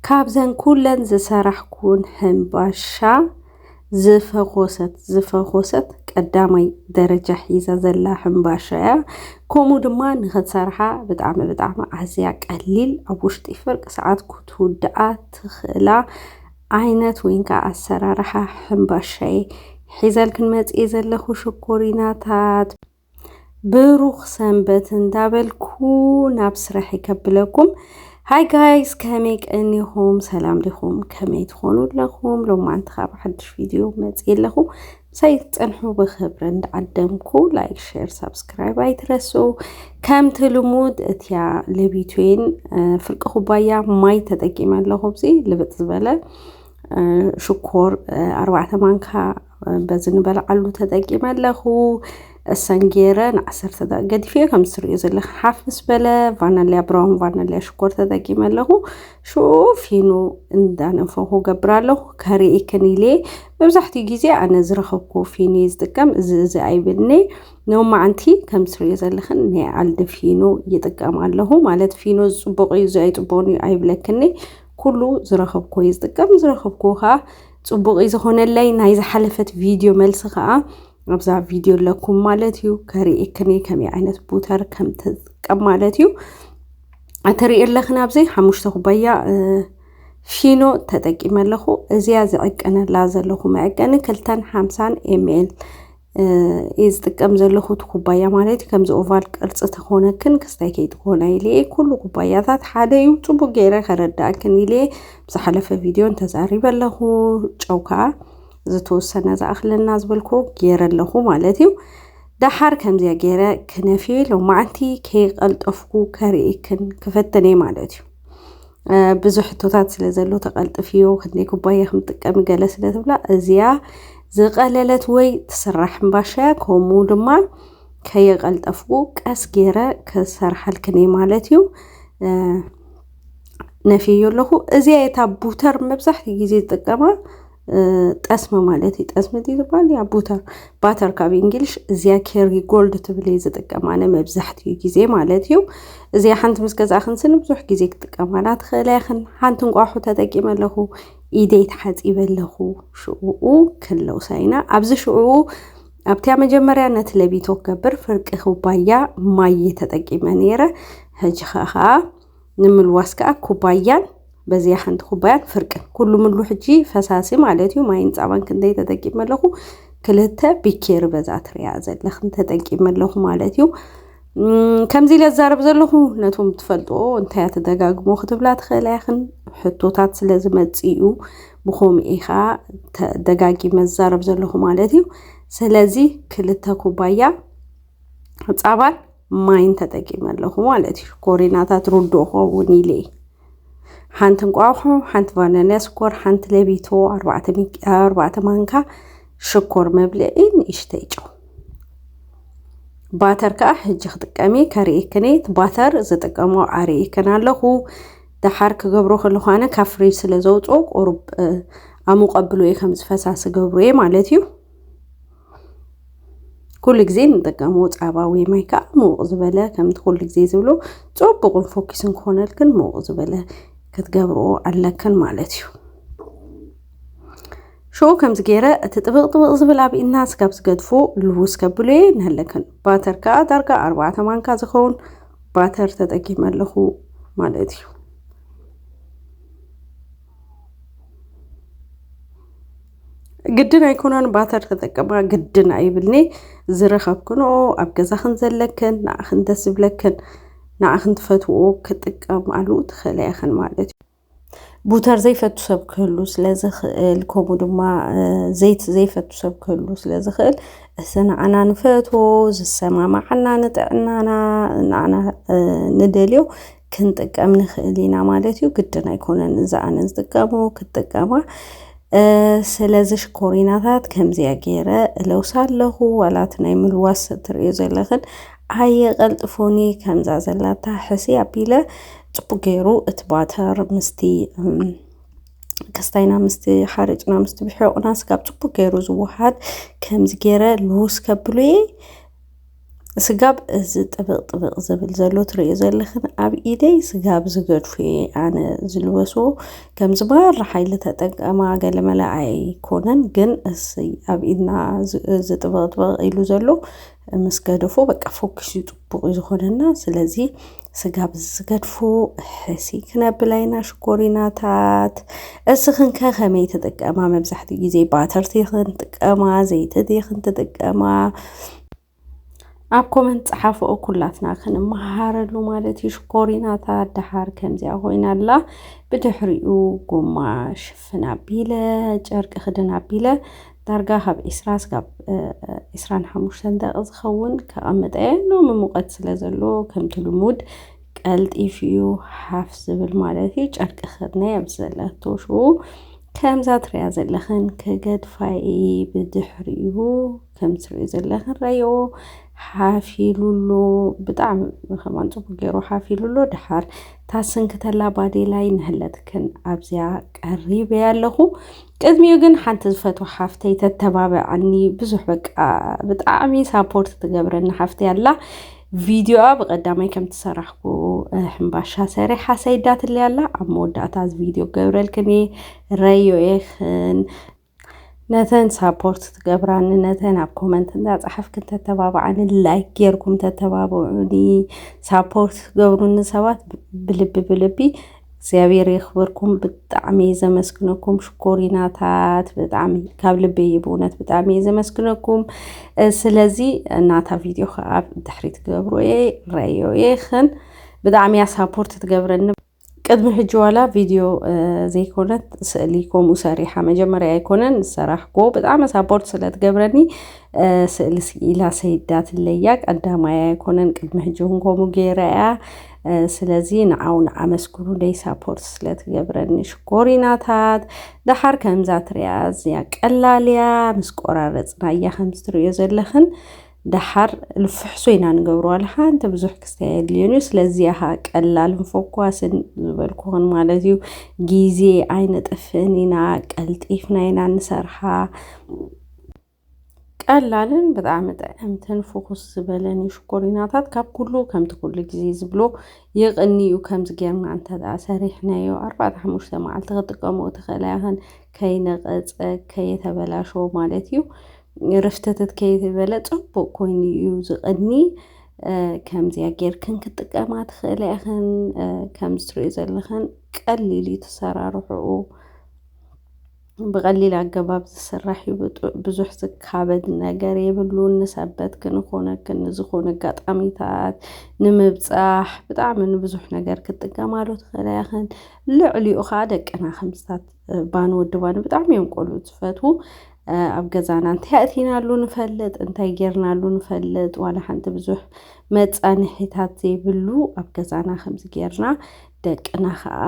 ካብዘን ኩለን ዝሰራሕኩወን ሕንባሻ ዝፈኾሰት ዝፈኾሰት ቀዳማይ ደረጃ ሒዛ ዘላ ሕንባሻ እያ። ከምኡ ድማ ንኽትሰርሓ ብጣዕሚ ብጣዕሚ ኣዝያ ቀሊል ኣብ ውሽጢ ፍርቂ ሰዓት ክትውድኣ ትኽእላ ዓይነት ወይ ከዓ ኣሰራርሓ ሕንባሻ እየ ሒዘልክን መፅኤ ዘለኹ ሽኮሪናታት ብሩኽ ሰንበት እንዳበልኩ ናብ ስራሕ ይከብለኩም ሃይ ጋይስ ከመይ ቀኒኹም ሰላም ዲኹም ከመይ ትኾኑ ኣለኹም ሎማንቲ ካብ ሓድሽ ቪድዮ መፅ ኣለኹ ምሳይ ትፀንሑ ብክብሪ እንዳዓደምኩ ላይክ ሼር ሳብስክራይብ ኣይትረሱ ከምቲ ልሙድ እትያ ለቢትዌን ፍርቂ ኩባያ ማይ ተጠቂመ ኣለኹ ብዚ ልብጥ ዝበለ ሽኮር ኣርባዕተ ማንካ በዚ ንበልዓሉ ተጠቂመ ኣለኹ። እሰን ገይረ ንዓሰርተ ደቂቕ ገዲፈዮ ከም እትርእዮ ዘለኽን ሓፍ ምስ በለ ቫናልያ ብራውን ቫናልያ ሽኮር ተጠቂመ ኣለኹ። ሽኡ ፊኑ እንዳነፈኹ ገብር ኣለኹ ከርእክን ኢለ መብዛሕትኡ ግዜ ኣነ ዝረኸብኩ ፊኑ እየ ዝጥቀም እዚ እዚ ኣይብልኒ ንማዓንቲ ከም እትርእዮ ዘለኽን ናይ ኣልዲ ፊኑ ይጥቀም ኣለኹ ማለት ፊኑ ዝጽቡቕ እዩ እዚ ኣይጽቡቕን እዩ ኣይብለክኒ ኩሉ ዝረኸብኩ እየ ዝጥቀም ዝረኸብኩ ከዓ ፅቡቅ እዩ ዝኾነለይ ናይ ዝሓለፈት ቪድዮ መልሲ ከዓ ኣብዛ ቪድዮ ኣለኩም ማለት እዩ ከርእየክኒ ከመይ ዓይነት ቡተር ከም ትጥቀም ማለት እዩ እትርኢ ኣለኽን ኣብዚ ሓሙሽተ ኩባያ ፊኖ ተጠቂመ ኣለኹ እዚያ ዝዕቀነላ ዘለኹ መዕቀኒ ክልተን ሓምሳን ኤምኤል እየ ዝጥቀም ዘለኹ እቲ ኩባያ ማለት እዩ ከምዚ ኦቫል ቅርፂ ተኾነክን ክስታይ ከይትኾነ ኢለ እየ ኩሉ ኩባያታት ሓደ እዩ ፅቡቅ ገይረ ከረዳእክን ኢለ እየ ብዝሓለፈ ቪድዮን ተዛሪበ ኣለኹ ጨው ከዓ ዝተወሰነ ዝኣኽለና ዝበልኩ ገይረ ኣለኹ ማለት እዩ ደሓር ከምዚያ ገይረ ክነፍየ ሎማዓንቲ ከይቀልጠፍኩ ከርእክን ክፈትን እየ ማለት እዩ ብዙሕ ሕቶታት ስለ ዘሎ ተቐልጥፍዮ ክንደይ ኩባያ ከም ትጥቀሚ ገለ ስለ ትብላ እዚኣ ዝቐለለት ወይ ትስራሕ እምባሻያ ከምኡ ድማ ከየቐልጠፍኩ ቀስ ገይረ ክሰርሓልክን እየ ማለት እዩ ነፍየዮ ኣለኹ እዚኣ የታ ቡተር መብዛሕትኡ ግዜ ዝጥቀማ ጠስሚ ማለት እዩ። ጠስሚ እቲ ዝበሃል ያ ቡተር ባተር ካብ እንግሊሽ እዚያ ኬሪ ጎልድ ትብል እየ ዝጥቀም ኣነ መብዛሕትኡ ግዜ ማለት እዩ። እዚኣ ሓንቲ ምስ ገዛእኽን ስኒ ብዙሕ ግዜ ክጥቀማላ ትኽእላ ኢኽን። ሓንቲ እንቋሑ ተጠቂመ ኣለኹ ኢደይ ተሓፂበ ኣለኹ። ሽዑኡ ክለውሳ ኢና ኣብዚ ሽዑኡ ኣብቲያ መጀመርያ ነቲ ለቢቶ ክገብር ፍርቂ ኩባያ ማይ ተጠቂመ ነይረ። ሕጂ ከዓ ንምልዋስ ከኣ ኩባያን በዚኣ ሓንቲ ኩባያን ፍርቅን ኩሉ ምሉ ሕጂ ፈሳሲ ማለት እዩ ማይን ፃባን ክንደይ ተጠቂመ ኣለኹ ክልተ ቢኬሪ በዛ ትሪኣ ዘለኽን ተጠቂመ ኣለኹ ማለት እዩ ከምዚ ኢለ ዛረብ ዘለኹ ነቶም ትፈልጥዎ እንታይ እያ ተደጋግሞ ክትብላ ትኽእላ ኢኽን ሕቶታት ስለ ዝመፅ እዩ ብኸምኡ ኢኻ ደጋጊመ ዛረብ ዘለኹ ማለት እዩ ስለዚ ክልተ ኩባያ ፃባን ማይን ተጠቂመ ኣለኹ ማለት እዩ ኮሬናታት ሩዶ ኸውን ኢለ ሓንቲ እንቋቑሖ ሓንቲ ቫነንያ ስኮር ሓንቲ ለቢቶ ኣርባዕተ ማንካ ሽኮር መብልዒ ንእሽተይ ጨው ባተር ከዓ ሕጂ ክጥቀሚ ከርእክኔት ባተር ዝጥቀሞ ኣርእክን ኣለኹ ደሓር ክገብሮ ከለኳነ ካብ ፍሪጅ ስለ ዘውፅኦ ቁሩብ ኣሙቀብሎ እየ ከም ዝፈሳሲ ገብሮ እየ ማለት እዩ ኩሉ ግዜ ንጥቀሞ ፃባ ወይ ማይ ከዓ ምውቕ ዝበለ ከምቲ ኩሉ ግዜ ዝብሎ ፅቡቕን ፎኪስን ክኾነልክን ምውቕ ዝበለ ክትገብርዎ ኣለክን ማለት እዩ ሽኡ ከምዚ ገይረ እቲ ጥብቕ ጥብቕ ዝብል ኣብ ኢና ስጋብ ዝገድፎ ልውስ ከብሎ እየ ንህለክን ባተር ከዓ ዳርጋ ኣርባዕተ ማንካ ዝኸውን ባተር ተጠቂመ ኣለኹ ማለት እዩ ግድን ኣይኮነን ባተር ተጠቀማ ግድን ኣይብልኒ ዝረኸብክንኦ ኣብ ገዛኽን ዘለክን ንኣኽን ደስ ዝብለክን ንኣኽን ትፈትዎ ክጥቀማሉ ትኽእለ ያኽን ማለት እዩ ቡተር ዘይፈቱ ሰብ ክህሉ ስለ ዝኽእል ከምኡ ድማ ዘይት ዘይፈቱ ሰብ ክህሉ ስለ ዝኽእል እዚ ንዓና ንፈትዎ ዝሰማማዓና ንጥዕናና ንዓና ንደልዮ ክንጥቀም ንኽእል ኢና ማለት እዩ ግድን ኣይኮነን እዛ ኣነ ዝጥቀሞ ክጥቀማ ስለዚ ሽኮሪናታት ከምዚያ ገይረ እለውሳ ኣለኹ ዋላት ናይ ምልዋስ ትርእዩ ዘለኽን ኣየቐልጥፎኒ ከምዛ ዘላታ ሕሲ ኣቢለ ፅቡቅ ገይሩ እቲ ባተር ምስቲ ክስታይና ምስቲ ሓርጭና ምስቲ ብሕቁና ስጋብ ፅቡቅ ገይሩ ዝወሃድ ከምዚ ገይረ ልውስ ከብሉ እየ ስጋብ እዚ ጥብቕ ጥብቕ ዝብል ዘሎ ትሪእዮ ዘለኽን ኣብ ኢደይ ስጋብ ዝገድፎ እየ ኣነ ዝልበስዎ ከምዚ ማራ ሓይሊ ተጠቀማ ገለመለ ኣይኮነን ግን እስይ ኣብ ኢድና ዝ- እዚ ጥብቕ ጥብቕ ኢሉ ዘሎ ምስ ገደፎ በቃ ፎኪስ እዩ ፅቡቕ እዩ ዝኾነና ስለዚ ስጋብ ዝገድፉ ሕሲ ክነብል ኣይና ሽኮሪናታት እስኽን ከ ከመይ ትጥቀማ መብዛሕትኡ ግዜ ባተርቲ ዲኽን ጥቀማ ዘይቲ ዲኽን ትጥቀማ ኣብ ኮመንት ጸሓፍኦ ኩላትና ክንመሃረሉ ማለት እዩ ሽኮሪናታት ደሓር ከምዚኣ ኮይና ኣላ ብድሕሪኡ ጎማ ሽፍ ፍን ኣቢለ ጨርቂ ክድን ኣቢለ ዳርጋ ካብ ዒስራ ስጋብ ዒስራን ሓሙሽተን ደቂ ዝኸውን ከቐምጠ እየ ሎሚ ሙቐት ስለ ዘሎ ከምቲ ልሙድ ቀልጢፉ እዩ ሓፍ ዝብል ማለት እዩ ጨርቂ ክድነ ኣብ ዘለቶ ሽኡ ከምዛ ትሪያ ዘለኽን ክገድፋ እየ ብድሕሪኡ ከም ትሪኡ ዘለኽን ረይኦ ሓፍ ኢሉሎ ብጣዕሚ ከማን ፅቡቅ ገይሩ ሓፍ ኢሉሎ ድሓር ታስንክተላ ባዴላይ ንህለትክን ኣብዚያ ቀሪብ እየ ኣለኹ ቅድሚኡ ግን ሓንቲ ዝፈትዋ ሓፍተይ ተተባብዐኒ ብዙሕ በቃ ብጣዕሚ ሳፖርት ትገብረኒ ሓፍተይ ኣላ ቪድዮኣ ብቀዳማይ ከም ትሰራሕኩ ሕምባሻ ሰሪሓ ሰይዳትለይ ኣላ ኣብ መወዳእታ እዚ ቪድዮ ገብረልክን እየ ረዮ የኽን ነተን ሳፖርት ትገብራኒ ነተን ኣብ ኮመንት እንዳፀሓፍክን ተተባብዓኒ ላይክ ጌርኩም ተተባብዑኒ ሳፖርት ትገብሩኒ ሰባት ብልቢ ብልቢ እግዚኣብሔር የኽብርኩም ብጣዕሚ እየ ዘመስግነኩም ሽኮሪናታት ብጣዕሚ ካብ ልቢ እዩ ብእውነት ብጣዕሚ እየ ዘመስግነኩም ስለዚ እናታ ቪድዮ ከዓ ድሕሪ ትገብሩ እየ ረዮ እየኽን ብጣዕሚ እያ ሳፖርት ትገብረኒ ቅድሚ ሕጂ ዋላ ቪድዮ ዘይኮነት ስእሊ ከምኡ ሰሪሓ መጀመርያ ኣይኮነን ዝሰራሕኩዎ ብጣዕሚ ሳፖርት ስለትገብረኒ ስእሊ ስኢላ ሰይዳትለያ ቀዳማይ ኣይኮነን ቅድሚ ሕጂ እውን ከምኡ ገይረ እያ ስለዚ ንዓው ንኣመስግኑ ደይ ሳፖርት ስለትገብረኒ ሽኮሪናታት ደሓር ከምዛ ትሪያ እዚያ ቀላልያ ምስ ቆራረፅና እያ ከምዚ ትሪዮ ዘለኽን ደሓር ልፍሕሶ ኢና ንገብሮ ዋላ ሓንቲ ብዙሕ ክስታይ ኣየድልዮን እዩ ስለዚ ያሃ ቀላልን ፎኳስን ዝበልኩኹን ማለት እዩ ጊዜ ኣይነጥፍእን ኢና ቀልጢፍና ኢና ንሰርሓ ቀላልን ብጣዕሚ ጥዕምትን ፍኹስ ዝበለን እዩ ሽኮሪናታት ካብ ኩሉ ከምቲ ኩሉ ጊዜ ዝብሎ ይቕንዩ ከምዚ ጌርና እንተ ሰሪሕናዮ ኣርባዕተ ሓሙሽተ መዓልቲ ክጥቀሙ ትኽእላ ይኸን ከይነቐፀ ከየተበላሸዎ ማለት እዩ ርፍተተት ከይበለ ጽቡቅ ኮይኑ እዩ ዝቀኒ ከምዚያ ጌርክን ክትጥቀማ ትኽእላ ኢኽን ከም ዝትሪኦ ዘለኽን ቀሊል እዩ ተሰራርሑኡ ብቐሊል ኣገባብ ዝስራሕ እዩ ብዙሕ ዝካበድ ነገር የብሉን ንሰበት ክንኾነክን ንዝኾነ ኣጋጣሚታት ንምብጻሕ ብጣዕሚ ንብዙሕ ነገር ክትጥቀማሉ ትኽእላ ኢኽን ልዕሊኡ ኸኣ ደቅና ከምስታት ባን ወዲ ባን ብጣዕሚ እዮም ቆልዑ ዝፈትዉ ኣብ ገዛና እንታይ ኣእቲናሉ ንፈልጥ እንታይ ጌርናሉ ንፈልጥ ዋላ ሓንቲ ብዙሕ መፃንሒታት ዘይብሉ ኣብ ገዛና ከምዚ ጌርና ደቅና ከዓ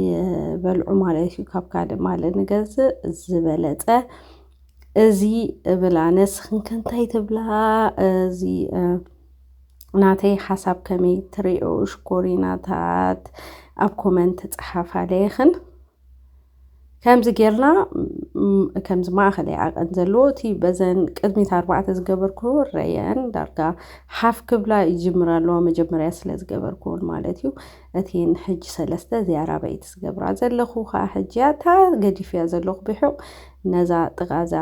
ይበልዑ ማለት እዩ ካብ ካልእ ማለት ንገዝእ ዝበለፀ እዚ እብል ኣነ ንስኽን ከ እንታይ ትብላ እዚ ናተይ ሓሳብ ከመይ ትሪኦ ሽኮሪናታት ኣብ ኮመንት ፀሓፋለይኽን ከምዚ ጌርና ከምዚ ማእኸል ይዓቐን ዘለዎ እቲ በዘን ቅድሚት ኣርባዕተ ዝገበርኩ ረየን ዳርጋ ሓፍ ክብላ ይጅምራ ኣለዋ መጀመርያ ስለ ዝገበርኩውን ማለት እዩ እቲ ንሕጂ ሰለስተ እዚኣ ራበይቲ ዝገብራ ዘለኹ ከዓ ሕጂ እታ ገዲፍያ ዘለኹ ብሑቕ ነዛ ጥቓዛ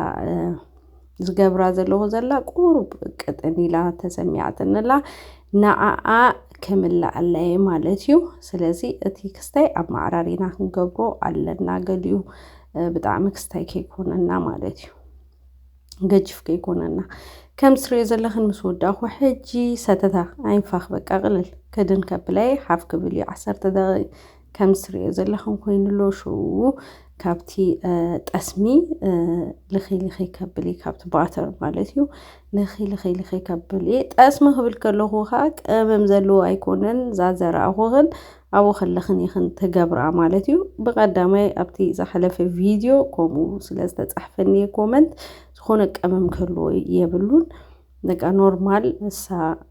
ዝገብራ ዘለኹ ዘላ ቁሩብ ቅጥን ኢላ ተሰሚዓትንላ ንዓኣ ክምልኣለየ ማለት እዩ ስለዚ እቲ ክስታይ ኣብ ማዕራሪና ክንገብሮ ኣለና ገሊኡ ብጣዕሚ ክስታይ ከይኮነና ማለት እዩ ገጅፍ ከይኮነና ከም ትሪኦ ዘለኽን ምስ ወዳእኹ ሕጂ ሰተታ ኣይንፋኽ በቃ ቅልል ክድን ከብለይ ሓፍ ክብል እዩ ዓሰርተ ደቂ ከም ትሪኦ ዘለኹም ኮይኑ ኣሎ ሽኡ ካብቲ ጠስሚ ልኺ ልኺ ከብል እዩ ካብቲ ባተር ማለት እዩ ልኺ ልኺ ልኺ ከብል እየ ጠስሚ ክብል ከለኹ ከዓ ቅመም ዘለዎ ኣይኮነን እዛ ዘረኣኹ ግን ኣብኡ ከለኽን ኢኽን ትገብራ ማለት እዩ ብቀዳማይ ኣብቲ ዝሓለፈ ቪድዮ ከምኡ ስለ ዝተፃሕፈኒ ኮመንት ዝኾነ ቀመም ክህልዎ የብሉን በቃ ኖርማል ንሳ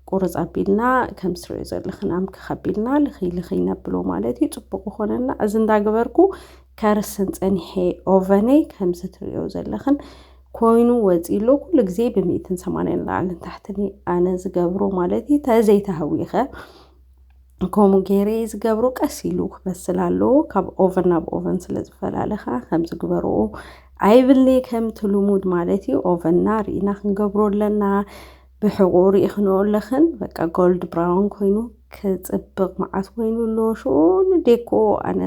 ቁርፅ ኣቢልና ከም ትሪኦ ዘለኽን ኣምክኽ ኣቢልና ልኽይ ልኽይ ነብሎ ማለት እዩ ፅቡቅ ይኾነና እዚ እንዳገበርኩ ከርስን ፀኒሐ ኦቨነይ ከምዚ ትሪኦ ዘለኽን ኮይኑ ወፂሉ ኩሉ ግዜ ብሚእትን ሰማንያን ላዕልን ታሕትን ኣነ ዝገብሮ ማለት እዩ ተዘይተሃዊኸ ከምኡ ገይረ እየ ዝገብሮ ቀስ ኢሉ ክበስል ኣለዎ ካብ ኦቨን ናብ ኦቨን ስለ ዝፈላለ ከዓ ከምዚ ግበርዎ ኣይብልኒ ከምቲ ልሙድ ማለት እዩ ኦቨንና ርኢና ክንገብሮ ኣለና ብሕቑ ርኢኽንኦ ኣለኽን በቃ ጎልድ ብራውን ኮይኑ ክፅብቕ መዓት ኮይኑ ኣሎ ሽኡ ንዴኮ ኣነ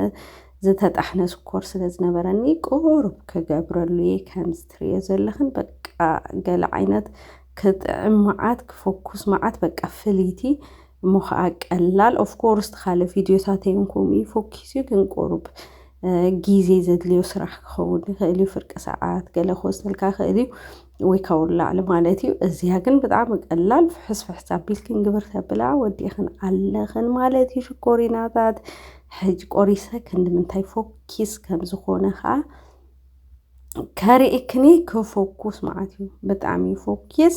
ዝተጣሕነ ስኮር ስለ ዝነበረኒ ቁሩብ ክገብረሉ እየ ከምዚ ትርእዮ ዘለኽን በቃ ገለ ዓይነት ክጥዕም መዓት ክፎኩስ መዓት በቃ ፍልይቲ እሞ ከኣ ቀላል ኦፍ ኮርስ ትካለ ቪድዮታተይ ውን ከምኡ እዩ ፎኪስዩ ግን ቁሩብ ግዜ ዘድልዮ ስራሕ ክኸውን ይኽእል እዩ ፍርቂ ሰዓት ገለ ክወስደልካ ክእል እዩ ወይ ካብኡ ንላዕሊ ማለት እዩ እዚኣ ግን ብጣዕሚ ቀላል ፍሕስ ፍሕስ ኣቢልክን ግብር ተብላ ወዲእኽን ኣለኽን ማለት እዩ ሽኮሪናታት ሕጅ ቆሪሰ ክንድምንታይ ፎኪስ ከም ዝኾነ ከዓ ከርእክኒ ክፎኩስ ማለት እዩ ብጣዕሚ ፎኪስ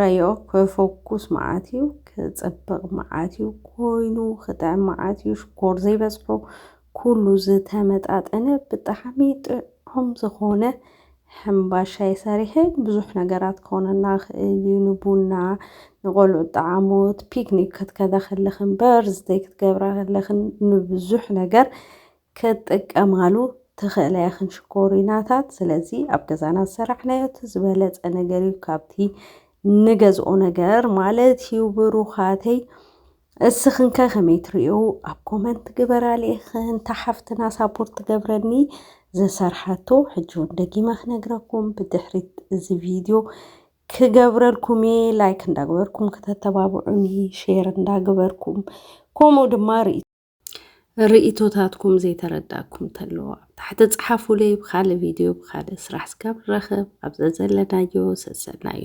ረዮ ክፎኩስ መዓት እዩ ክፅብቕ መዓት እዩ ኮይኑ ክጥዕም መዓት እዩ ሽኮር ዘይበዝሖ ኩሉ ዝተመጣጠነ ብጣዕሚ ጥዑም ዝኾነ ሕምባሻይ ሰሪሐ ብዙሕ ነገራት ክኾነና ይኽእል እዩ ንቡና ንቆልዑ ጣዓሞት ፒክኒክ ክትከዳ ከለኽን በርዝደይ ክትገብራ ከለኽን ንብዙሕ ነገር ክትጥቀማሉ ትኽእላ ኢኽን ሽኮሪናታት ስለዚ ኣብ ገዛና ዝሰራሕናዮ እቲ ዝበለፀ ነገር እዩ ካብቲ ንገዝኦ ነገር ማለት እዩ ብሩኻተይ እስኽንከ ከመይ ትርእዩ ኣብ ኮመንት ግበራ ልኢኽን እታ ሓፍትና ሳፖርት ትገብረኒ ዘሰርሓቶ ሕጂ ውን ደጊመ ክነግረኩም ብድሕሪት እዚ ቪድዮ ክገብረልኩም እየ ላይክ እንዳግበርኩም ከተተባብዑኒ ሼር እንዳግበርኩም ከምኡ ድማ ርኢ ርእቶታትኩም ዘይተረዳኩም ተለዎ ኣብ ታሕቲ ጽሓፉለይ ብካልእ ቪድዮ ብካልእ ስራሕ ስጋብ ንረኽብ ኣብ ዘዘለናዮ ሰሰናዩ